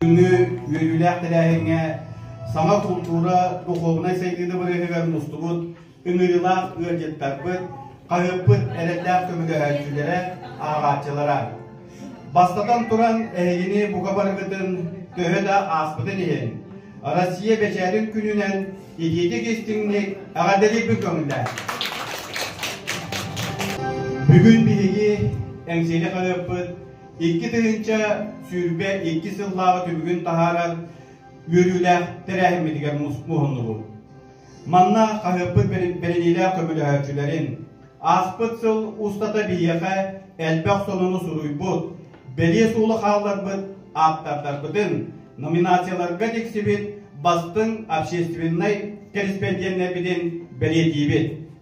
Күндү үөрүүлээх тэрээһиҥҥэ саҥа култуура, духуобунай сайдыыны бырыһыгар мустубут ыҥырыылаах ыалдьыттарбыт, хаһыаппыт эрэллээх көмөлөһөөччүлэрэ, ааҕааччылара. Бастатан туран, эһигини бука барыгытын төһө да ааспытын иһин, Россия бэчээтин күнүнэн итиитик истиҥник эҕэрдэлиибин көҥүллээн. Бүгүн биһиги Эҥсиэли хаһыаппыт Икки тыһыынча сүүрбэ икки сыллааҕы түбүгүн таһаарар үөрүүлээх тэрээһиммитигэр муһуннубут. Манна хаһыаппыт бэриниилээх көмөлөһөөччүлэрин, ааспыт сыл устата биһиэхэ элбэх сонуну суруйбут, бэлиэ суолу хаалларбыт ааптардарбытын, номинацияларга тиксибит бастыҥ общественнай корреспонденнарбытын бэлиэтиибит.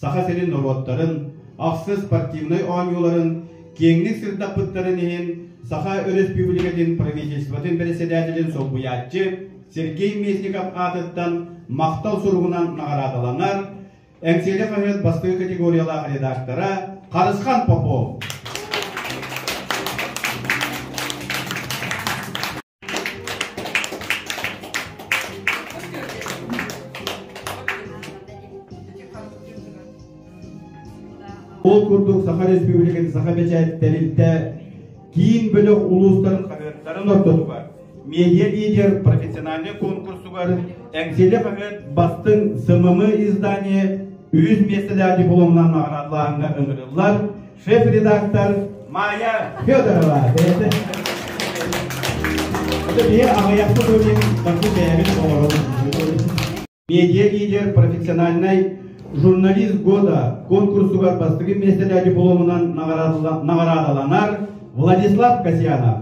Саха сирин норуоттарын ахсыс спортивнай оонньууларын киэҥник сырдаппыттарын иһин Саха Өрөспүүбүлүкэтин Правительствотын бэрэссэдээтэлин солбуйааччы Сергей Местников аатыттан махтал суругунан наҕараадаланар Эҥсиэли хаһыат бастакы категориялаах редактора Харысхан Попов. Ол курдук Саха Республикатын саха бэчээт тэрилтэ киин бөлөх улуустарын хаһыаттарын ортотугар медиа-лидер профессиональнай конкурсугар Эҥсили хаһыат бастыҥ СММ издание үһүс миэстэлээх дипломунан наҕараадалааһыҥҥа ыҥырыллар шеф-редактор Майя Федорова бэйэтэ биһи аҕыйахта көрүҥ дакы бэйэбит олорон медиа лидер профессиональнай журналист года конкурсугар бастыгы миэстэлэ дипломунан наҕараадаланар Владислав Касьянов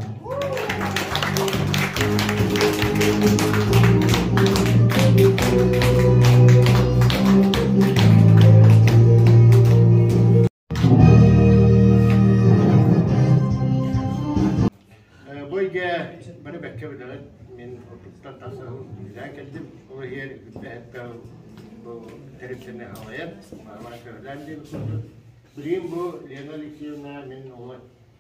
Бу эйгэ бары бэккэ билэҕит. Мин уруккуттан тахсаһым билээн кэлдим. Ол иһигэр бүтэһэттэн бу тэрилтэни аҕайан, баалаан көһүлээн диэн курдук. Билигин бу Лена Алексеевна мин оҕо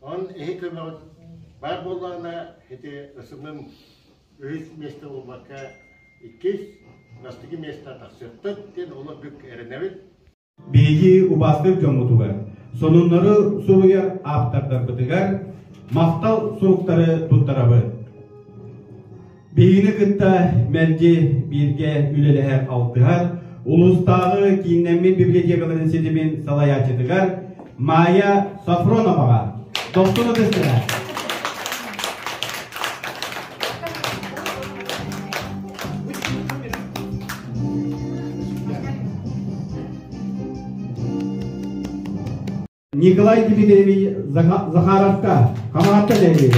Ол эһи көмөҕүн баар буоллаҕына, ити ысылым үһүс миэстэ буолбакка, иккис, бастакы миэстэ тахсыахтык диэн олордук эрэнэбит. Биһиги убаастык дьоммутугар, сонуннары суруйар ааптардарбытыгар махтал суруктары туттарабыт. Биһигини кытта мэлдьи бииргэ үлэлэһэр алтыһар, улуустааҕы кииннэммит библиотекаларын ситимин салайааччытыгар Майя Софроноваҕа достук ытыстыра. Николай Дмитриевич Захаровка хамаатта дэрийэ.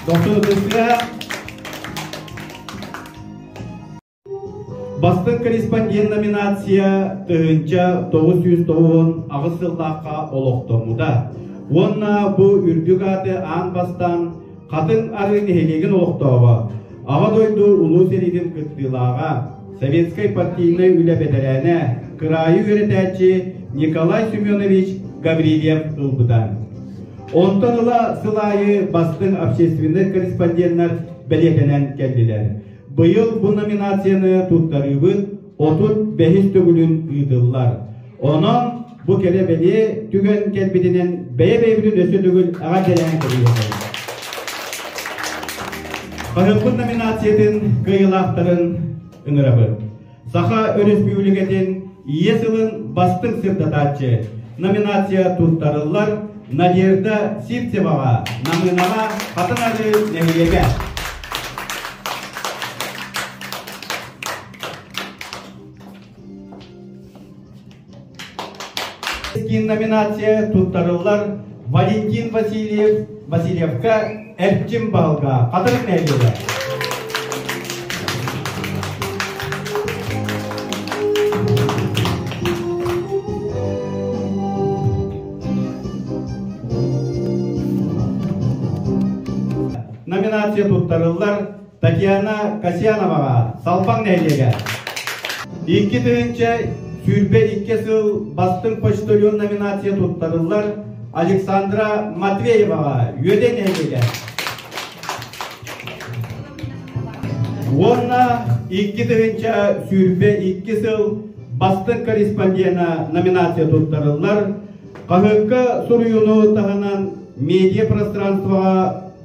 Доктор Тысля Бастык корреспондент номинация тыһынча тоғыз жүз тоғыз аҕыс сыллаахха олохтоммута. Уонна бу үрдүк ааты аан бастан Хатыҥ ары нэһилиэгин олохтооҕо, Аҕа дойду Улуу сэриитин кыттыылааҕа, Советскай партийнай үлэ бэтэрээнэ, кыраайы үөрэтээччи Николай Семенович Гаврильев ылбыта. Онтон ыла сыл аайы бастыҥ общественнай корреспонденнар бэлиэтэнэн кэллилэр. Быйыл бу номинацияны туттарыыбыт отут бэһис төгүлүн ыытыллар. Онон бу кэлэ-бэлиэ түгэн кэлбитинэн бэйэ-бэйэбитин өссө төгүл эҕэрдэлээн кэбиһэбин. Хаһыаппыт номинациятын кыайылаахтарын ыҥырабыт. Саха Өрөспүүбүлүкэтин Ийэ сылын бастыҥ сырдатааччы номинация туттарыллар Надежда Сивцеваҕа, Намынаҕа, Хатан Ары нэһилиэгэ. номинация туттарыллар Валентин Васильев Васильевка Эрчим Баалга Хатырык нэһилиэгэ. Номинация туттарыллар Татьяна Касьяноваҕа, Салбаҥ нэһилиэгэ. Икки тыһыынча сүүрбэ икки сыл бастыҥ почтальон номинация туттарыллар Александра Матвееваҕа, Үөдэй нэһилиэгэ. Уонна икки тыһыынча сүүрбэ икки сыл бастыҥ корреспондена номинация туттарыллар. Хаһыакка суруйууну таһынан медиа пространствоҕа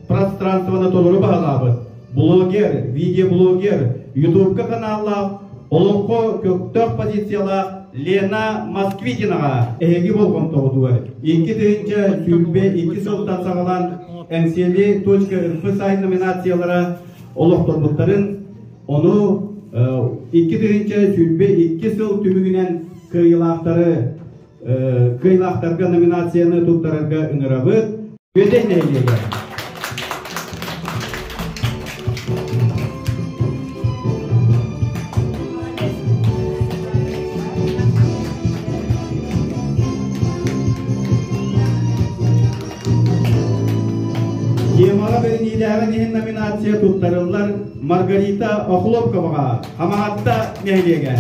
пространствоны толору баһылаабыт блогер, видеоблогер, ютубка каналлаах, олоҥхо көктөх позициялаах Лена Москвитинаҕа эһиги болҕомтоҕутугар икки тыһыынча сүүрбэ икки сылтан саҕалаан ncl.info сайт номинациялара олохторбуттарын ону икки тыһыынча сүүрбэ икки сыл түмүгүнэн кыайыылаахтары кыайыылаахтарга номинацияны туттарарга ыҥырабыт Бүөдэй нэһилиэгэ Темаҕа бэриниилээҕин иһин номинация туттарыллар Маргарита Охлопковаҕа Хамаатта нэһилиэгэ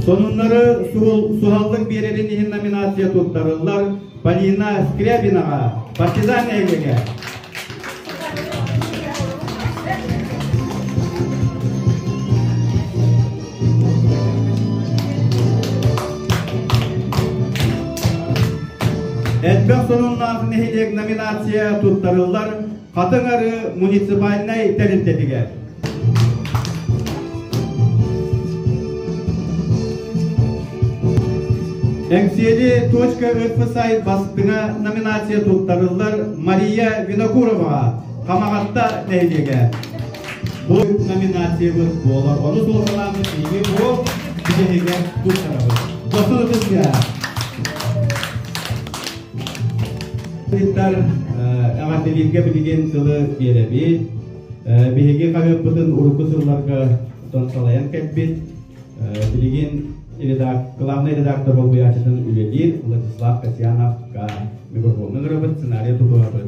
Сонуннары суһаллык биэрэрин иһин номинация туттарыллар Полина Скрябинаҕа партизан эһилигэ Элбэх сонуннаах нэһилиэк номинация туттарыллар Хатыҥ Ары муниципальнай тэрилтэтигэр. Эҥсиэли «Точка РФСАЙ» бастыҥа номинация туттарыллар Мария Винокуроваҕа Хамаҕатта нэһилиэгэ бу номинациябыт буолар ону суолталаабыт биһиги бу биһигэ туттарабыт досур ытысга эҕэрдэлииргэ билигин тылы биэрэбит Биһиги хаһыаппытын урукку сылларга тон салайан кэлбит, билигин главнай редактор болбуйааччытын үлэлиир Владислав Касьянов-ка микрофоҥҥа ыҥырабыт, сценарий тутуһабыт.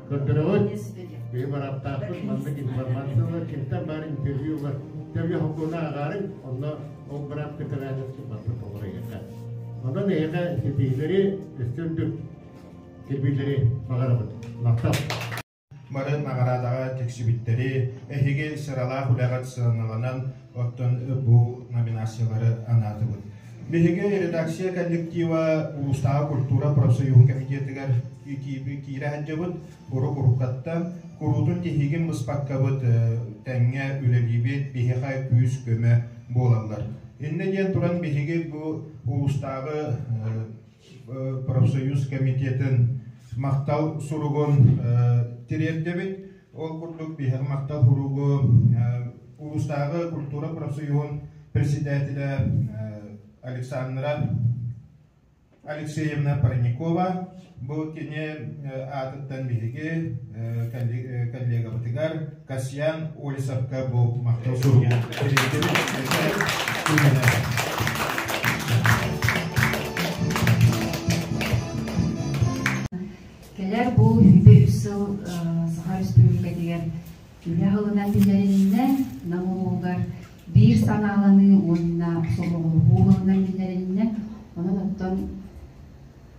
Боппуруот биһи бараптаахпыт маннык информация ылар кимтэн баар интервью ылар төбө хокуона ааҕарыҥ онно ол бырап кытараадьа сыммаппыт оҕор эйэхэ онон эйэхэ ситиһилэри өстөндүк сирбиилэри баҕарабыт махтал маны наҕараадаҕа тиксибиттэри эһиги сыралаах үлэҕит сыаналанан оттон бу номинациялары анаатыбыт Биһиги редакция коллектива улуустааҕы культура профсоюһун комитетыгар киирэ сылдьабыт, урук уруккаттан куруутун тиһигин быспаккабыт тэҥҥэ үлэлиибит, биһиэхэ күүс-көмө буолаллар. Иннэ диэн туран биһиги бу улуустааҕы профсоюз комитетын махтал суругун тириэрдэбит. Ол курдук биһиги махтал суругу улуустааҕы культура профсоюһун председателэ Александра Алексеевна Парникова бу кини аатыттан биһиги коллегабытыгар Касьян Олисовка бу махтал суругу Кэлэр бу үйбэ үс сыл Саха Республикатыгар үлэ хылына түнэриннэ Нам улуугар биир санааланыы уонна сомоҕолоһуу хылынан түнэриннэ Онон оттон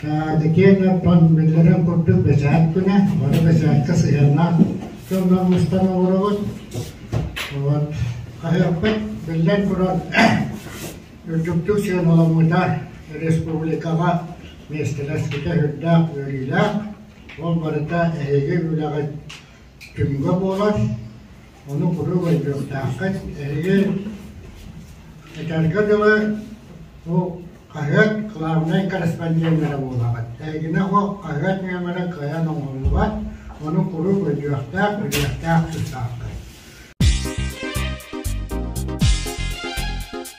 Кэдикиэн epпон биллэрин курдук бэчээт күнэ, бары бэчээккэ сыһыаннаах дьоннор мустан олоробут. Вот хаһыаппыт, биллэн турар, үрдүктүк сыаналаммыта республикаҕа миэстэлэспитэ үрдээх үөрүүлээх. Ол барыта эһиги үлэҕит түмүгэ буолар. Ону куруук ойдуохтааххыт. Эригэр этэргэ дылы, бу хаһыат главнай корреспонденнара буолаҕыт. Эйигинэ бу хаһыат нөмөрө кыайан оҥоһуллубат, ону куруук өйдүөхтээх, билиэхтээх тустааххыт.